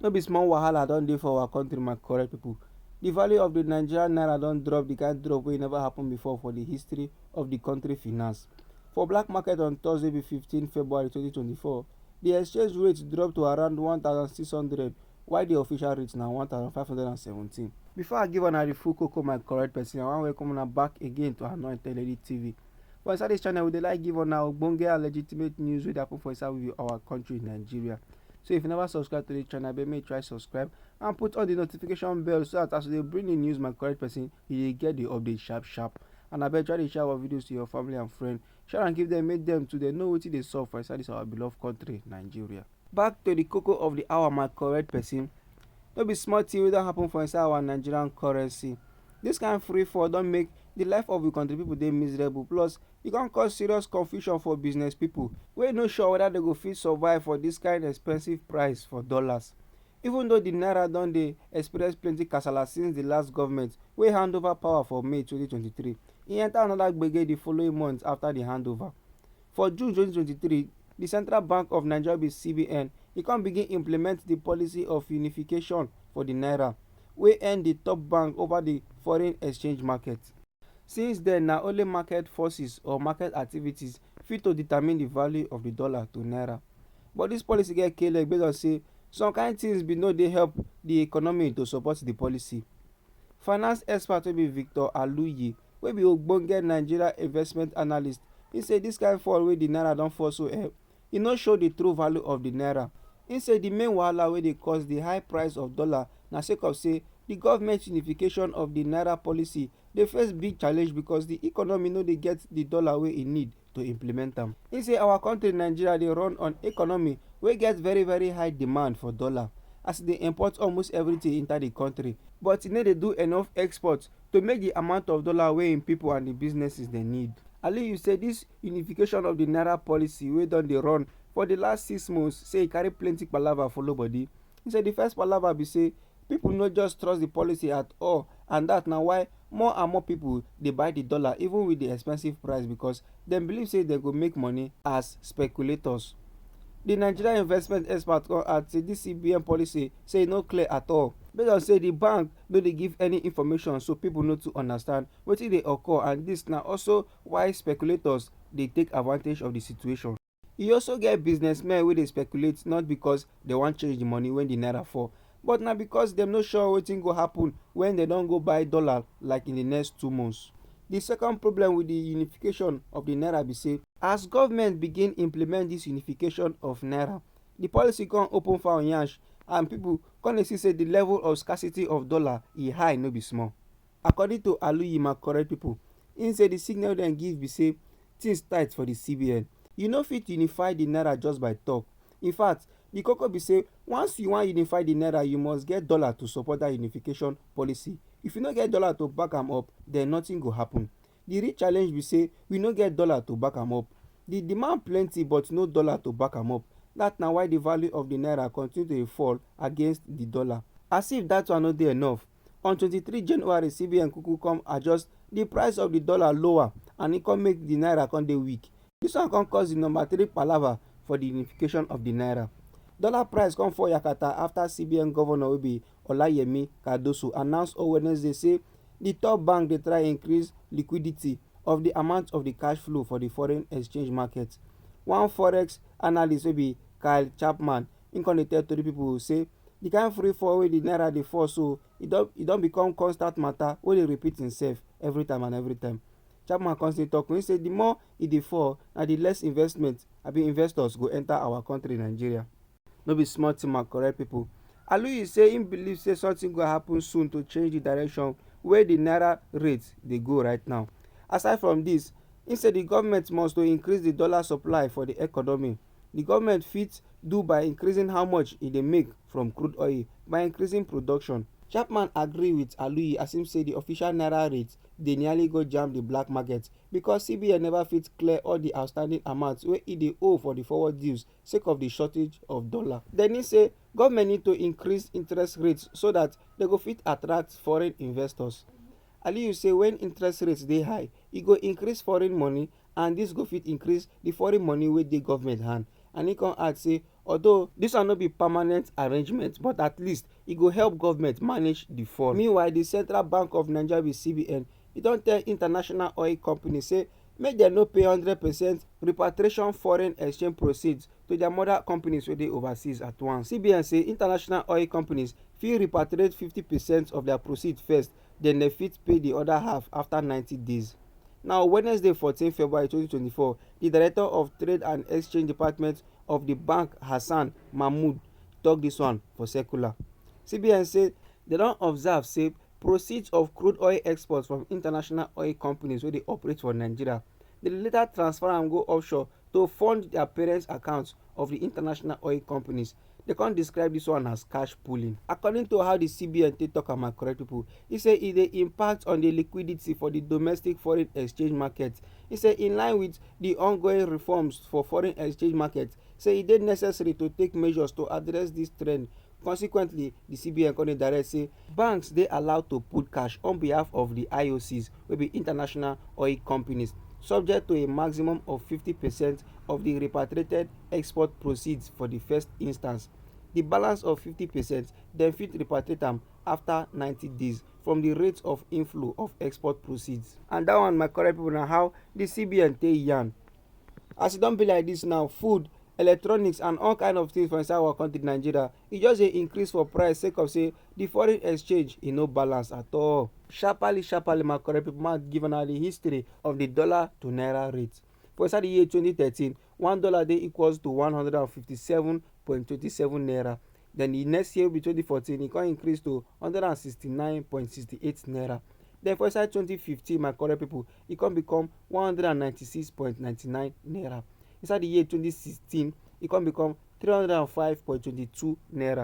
No be small wahala don dey for our country my correct people. The value of the Nigerian naira don drop the kind drop wey never happen before for the history of the country finance. For black market on Thursday be 15 February 2024, the exchange rate drop to around 1,600 while the official rate na 1,517. Before I give una the full koko my correct person, I wan welcome una back again to Anointed Lady TV. But inside this channel, we dey like give on our ogbonge and legitimate news wey dey happen for inside we our country Nigeria. So if you never subscribe to the channel, abeg make you try subscribe and put on the notification bell so that as we dey bring the news my correct person, you dey get the update sharp sharp. And abeg try dey share our videos to your family and friend. Share and give them, make them too dey know wetin dey sup for inside this our beloved country Nigeria. Back to the koko of the hour, my correct person. No be small thing wey don happen for inside our Nigerian currency. Dis kain free fall don make di life of di kontri pipo dey miserable plus e kon cause serious confusion for business pipo wey no sure weda dem go fit survive for dis kain expensive price for dollars. Even though di naira don dey experience plenty kasala since di last govment wey hand over power for May twenty twenty three, e enta anoda gbege di following month afta di handover. For June 2023, di Central Bank of Nigeria be CBN, e come begin implement di policy of unification for di naira, wey earn di top bank over di foreign exchange market. Since den, na only market forces or market activities fit to determine di value of di dollar to naira. But dis policy get k-leg based on say some kain tins bin no dey help di economy to support di policy. Finance expert wey be Victor Aluyi wey be ogbonge Nigeria investment analyst, he say this kind fall wey the naira don fall so eh, e no show the true value of the naira. He say the main wahala wey dey cause the high price of dollar na sake of say the government unification of the naira policy dey face big challenge because the economy no dey get the dollar wey e need. to implement am. He say our country Nigeria dey run on economy wey get very very high demand for dollar as e dey import almost everything enter the country but e no dey do enough export to make the amount of dollar wey im people and the businesses dey need. Aliyu say this unification of the naira policy wey don dey run for the last six months say e carry plenty palava follow body. He say the first palava be say People no just trust the policy at all and that na why more and more people dey buy the dollar even with the expensive price because dem believe say dem go make money as speculators. The Nigerian investment expert come add say this CBN policy say e no clear at all. Based on say the bank no dey give any information so people no too understand wetin dey occur and this na also why speculators dey take advantage of the situation. E also get businessmen wey dey speculate not because dem wan change the money when the naira fall, but na because dem no sure wetin go happen when dem don go buy dollar like in the next two months. The second problem with the unification of the naira be say, as government begin implement this unification of naira, the policy come open fowl yansh and people come dey see say the level of scarcity of dollar e high no be small. According to Aluyima correct people, im say di signal wey dem give be say things tight for di CBN. You no fit unify di naira just by talk. In fact, di koko be say once you wan unify di naira you must get dollar to support dat unification policy. If you no get dollar to back am up, den nothing go happen. Di real challenge be say we no get dollar to back am up. Di demand plenty but no dollar to back am up. Dat na why di value of di naira continue to dey fall against di dollar. As if dat one no dey enough, on 23 january cbn kuku come adjust di price of di dollar lower and e come make di naira come dey weak dis one come cause di number three palava for di unification of di naira dollar price come fall yakata afta cbn governor wey be olayemi cardoso announce on wednesday say di top bank dey try increase liquidity of di amount of di cash flow for di foreign exchange market one forex analyst wey be kyle chapman im come dey tell tori pipo say di kain free fall wey di naira dey fall so, e don e don become constant mata wey dey repeat imsef evri time and evri time. Chapman come still tok, im say di more e dey fall, na di less investment abi investors go enta our kontri, Nigeria. No be small tin my correct pipo. Aluyi say im believe say sometin go happun soon to change di direction wey di naira rate dey go right now. Aside from dis, im say di goment must to increase di dollar supply for di economy. di goment fit do by increasing how much e dey make from crude oil by increasing production. Chapman agree wit Aluyi as im say di official naira rate dey nearly go jam di black market because CBN neva fit clear all di outstanding amounts wey e dey owe for di forward deals sake of di shortage of dollar. Denny say goment need to increase interest rates so dat dem go fit attract foreign investors. Aliyu say wen interest rates dey high, e go increase foreign money and dis go fit increase di foreign money wey dey government hand and e come add say although dis one no be permanent arrangement but at least e go help government manage di fund. Meanwhile di Central Bank of Nigeria (CBN) e don tell international oil companies say make dem no pay hundred percent repatriation foreign exchange proceeds to dia mother companies wey dey overseas at once. CBN say international oil companies fit repatriate fifty percent of dia proceeds first den dem fit pay di oda half afta ninety days. Na on Wednesday fourteen February twenty twenty four, di Director of Trade and Exchange Department of di bank Hassan Mahmoud tok dis one for circular. CBN say dem don observe say proceeds of crude oil exports from international oil companies wey dey operate for Nigeria dey later transfer am go offshore to fund dia parent accounts of di international oil companies. They can't describe this one as cash pooling. According to how the CBN take talk am, my correct people, he say e dey impact on the liquidity for the domestic foreign exchange market. He say in line with the ongoing reforms for foreign exchange market, say e dey necessary to take measures to address this trend. Consequently, the CBN come direct say banks dey allowed to pool cash on behalf of the IOCs, wey be international oil companies, subject to a maximum of 50 percent of the repatriated export proceeds for di first instance, di balance of 50 percent dem fit repatriate am afta 90 days from di rate of inflow of export proceeds. And dat one my correct pipo na how di CBN take yarn. As e don be like dis now, food, electronics and all kind of things for inside our country Nigeria, e just dey increase for price sake of say di foreign exchange e no balance at all. Sharparly sharparly my correct pipo make I give una di history of di dollar to naira rate. For inside di year 2013, one dollar dey equals to one hundred and fifty-seven point twenty-seven naira then the next year wey be twenty fourteen e come increase to one hundred and sixty-nine point sixty-eight naira then for inside twenty fifteen my correct people e come become one hundred and ninety-six point ninety-nine naira inside the year twenty sixteen e come become three hundred and five point twenty-two naira.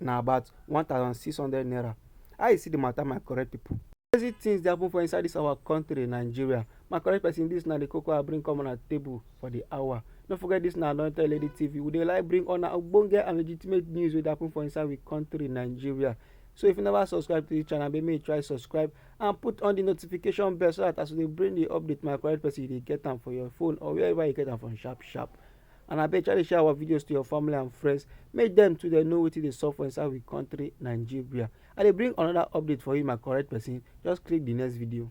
na about one thousand six hundred naira how you see the matter my correct people. crazy things dey happen for inside this our country nigeria my correct person this na the koko i bring come on a table for the hour no forget this na anointed lady tv we dey like bring on ogbonge and legitimate news wey dey happen for inside we country nigeria so if you never subscribe to the channel make you try subscribe and put on the notification bell so that as we dey bring the update my correct person you dey get am for your phone or wherever you get am from sharp sharp and abeg try dey share our videos to your family and friends make dem too dey know wetin dey sup for inside we country nigeria i dey bring another update for you my correct person just click the next video.